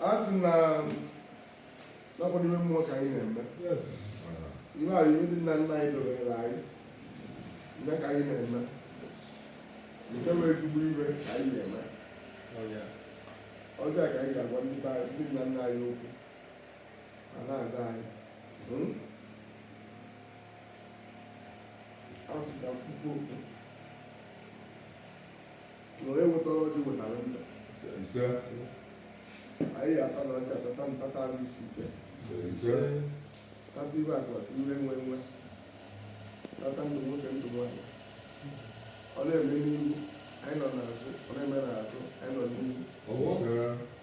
a sị na n'ọkwa n'ime mmụọ ka anyị na-eme ihe a ihe ndị nna nna anyị dọbere anyị ihe ka anyị na-eme nke bụ ezigbo ihe ka anyị na-eme ọzọ ka anyị ga-agwa ndị be anyị ndị nna nna anyị okwu ha na-aza anyị a sị ka m kpufu okpu na onye wetara ọjị wetara ndụ ise anyị ya-ata n'ọjị a tata ndụ tata arụ isi ike ise ise tata ihe akụ akụ ihe enwe enwe tata ndụ nwoke ndụ nwaanyị ọ na-eme n'ihu anyị nọ n'azụ ọ na-eme n'azụ anyị nọ n'ihu ise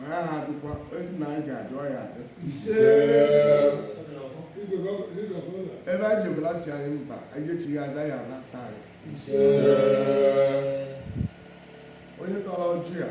ọ ya ha adịkwa ezi na anyị ga-adị ọ ya-adị ebe anyị jebe ala sị anyị mba anyị echigha azụ ya ala taa ya onye tọrọ ọjị a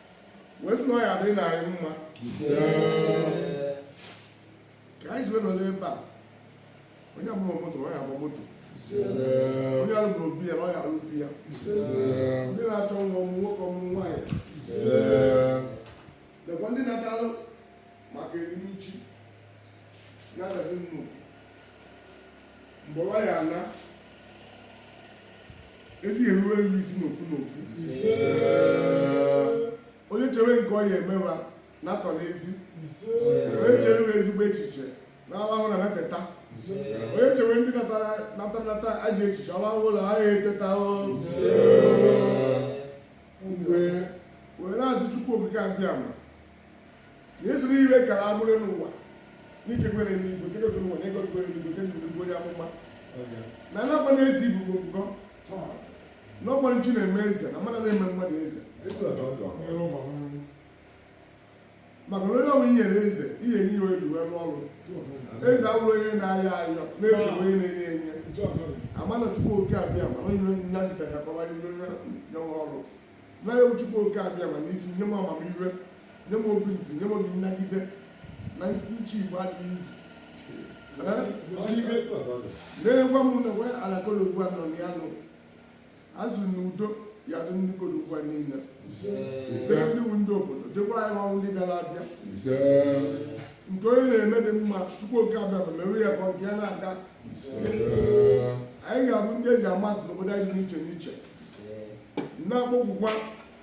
wee sị na ọ ya-adịrị na anyị mma ka anyị ziwe nọrọ ebe a onye agbabughị moto na ọ ya-agba moto onye alụbughị obi ya na ọ ya-alụ obi ya ndị na-achọ nwa ọmụ nwoke ọmụ nwaanyị lekwa ndị na-atalụ maka erimji na-adazi nnukwu mgbe nwaanyị ala ezi eruwe nri isi n'ofu n'ofu onye chere nke ọ ya emewa na-atọ n'ezi onye chere ezigbo echiche na-arahụ na-eteta onye chere ndị natara nata ajọ echiche ọ rahụ na ha ya eteta mgbe were na-asị chukwu okike abịama na ezi niile gara abụrụ n'ụwa n'ike kwere n'igwe nke gotere ụwa n'ego kwere n'igwe nke ndụ bụ onye amụma na anakwa na-ezi ibubo ngọ na ọ kwa chi na-eme eze na mmadụ na-eme mmadụ eze maka na onye ọbụla i nyere eze i wee nye ihe eji wee rụọ ọrụ eze awụrụ onye na-ayọ ayọ na-eji onye na-enye enye amana chukwu oke abịama onye nna zitara kọwa ihe nyanwa ọrụ Nna ya Chukwu oke abịama na-asị nye m amamihe nye m obi ndidi nye m obi nnagide na ịchị Igbo adịghị easy na-egwa m na nwe ala Nkpologwu anọ na ya n'azụ na udo ya-adị ndị Nkpologwu a niile ise ndị wu ndị obodo jikọrọ anyị ọnụ ndị bịara abịa nke onye na-eme dị mma Chukwu oke abịama mewe ya ka ọ bịa na-aga anyị ga-abụ ndị eji ama atụ n'obodo anyị dị n'iche n'iche na-akpọkukwa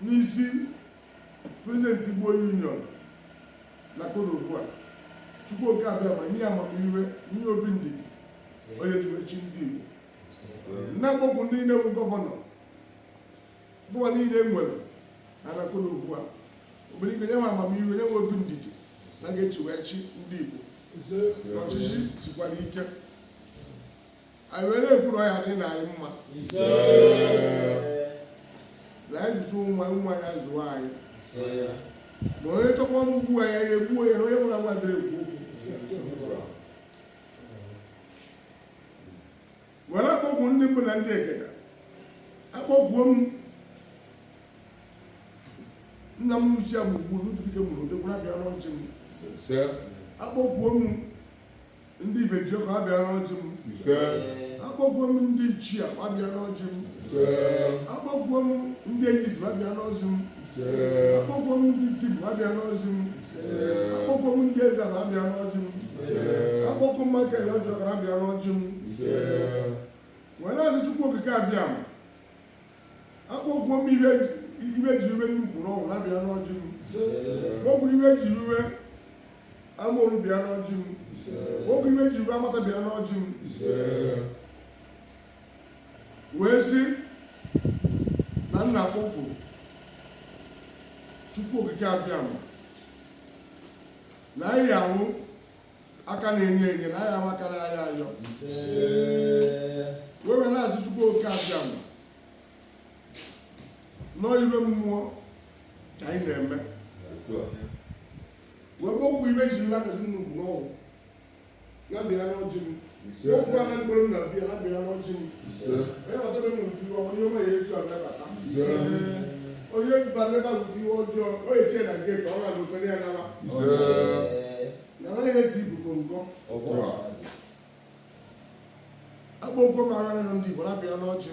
n'isi prezident Igbo Union na koro ugbu a Chukwu oke Abịama nye amamiwe nye obi ndidi ọ ya-eji we chị ndị Igbo na-akpọku ndị niile bụ gọvanọ ụwa niile nwere na na koro ugbu a obere ike nye nwe amamiwe nye nwe obi ndidi ha ga-eji we chị ndị Igbo ọchịchị sikwara ike anyị wee na-ekwu na ọ ya-adịrị anyị mma na anyị zụchaa nwa nwa ya-azụ anyị ma onye chọkwa mgbu ya ya egbuo ya na onye nwụrụ anwụ adịghị ekwu okwu were akpọku ndị mbụ na ndị egede akpọkuo m nna m uche ya bụ ugbu n'ụtụtụ ike mụrụ ụdị kwụrụ abịa n'ọjị m akpọkuo m Ndị ibe Jehova abịa n'ọjị m. Akpọkuo m ndị ichie a abịa n'ọjị m. Akpọkuo m ndị enyi si abịa n'ọjị m. Akpọkuo m ndị di m abịa n'ọjị m. Akpọkuo m ndị eze ala abịa n'ọjị m. Akpọkuo m maka ele ọjọọ kara abịa n'ọjị m. Wee na-asị Chukwu Okike Abịama. akpọkuo m ibe ibe ji iwe nnukwu n'ọgwụ na bịa n'ọjị m kpọku ibe ji iwe Amaoru bịa n'ọjị m kpọku ibe ji iwe Amata bịa n'ọjị m wee sị na m na-akpọku Chukwu Okike Abịama na anyị awụ aka na-enye enye na anyị awụ aka na-ayọ ayọ wee na-asị Chukwu oke Abịama na ọ iwe mmụọ ka anyị na-eme wee kpọku ibe ji nlakasị nnukwu n'ọgwụ na bịa n'ọjị m okwu ana mgbe m na-abịa na bịa n'ọjị m onye batara m ụdị ọma ihe ọma ya-eso ya na-abata onye bara ebe ahụ ụdị ọjọọ o eche na nke ka ọ ga n'ụfọdụ ya naba na ọ naghị esi ibubo ngọ akpọkuo m ana na ndị Igbo na-abịa n'ọjị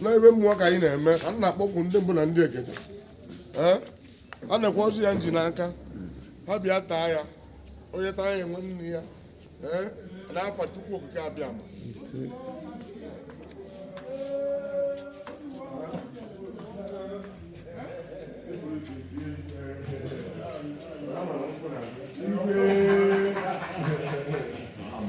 na iwe mmụọ ka anyị na-eme a na-akpọku ndị mbụ na ndị egede a na-ekwu ọjị a m ji n'aka ha bịa taa ya onye taa ya nwanne ya n'afa Chukwu Okike Abịama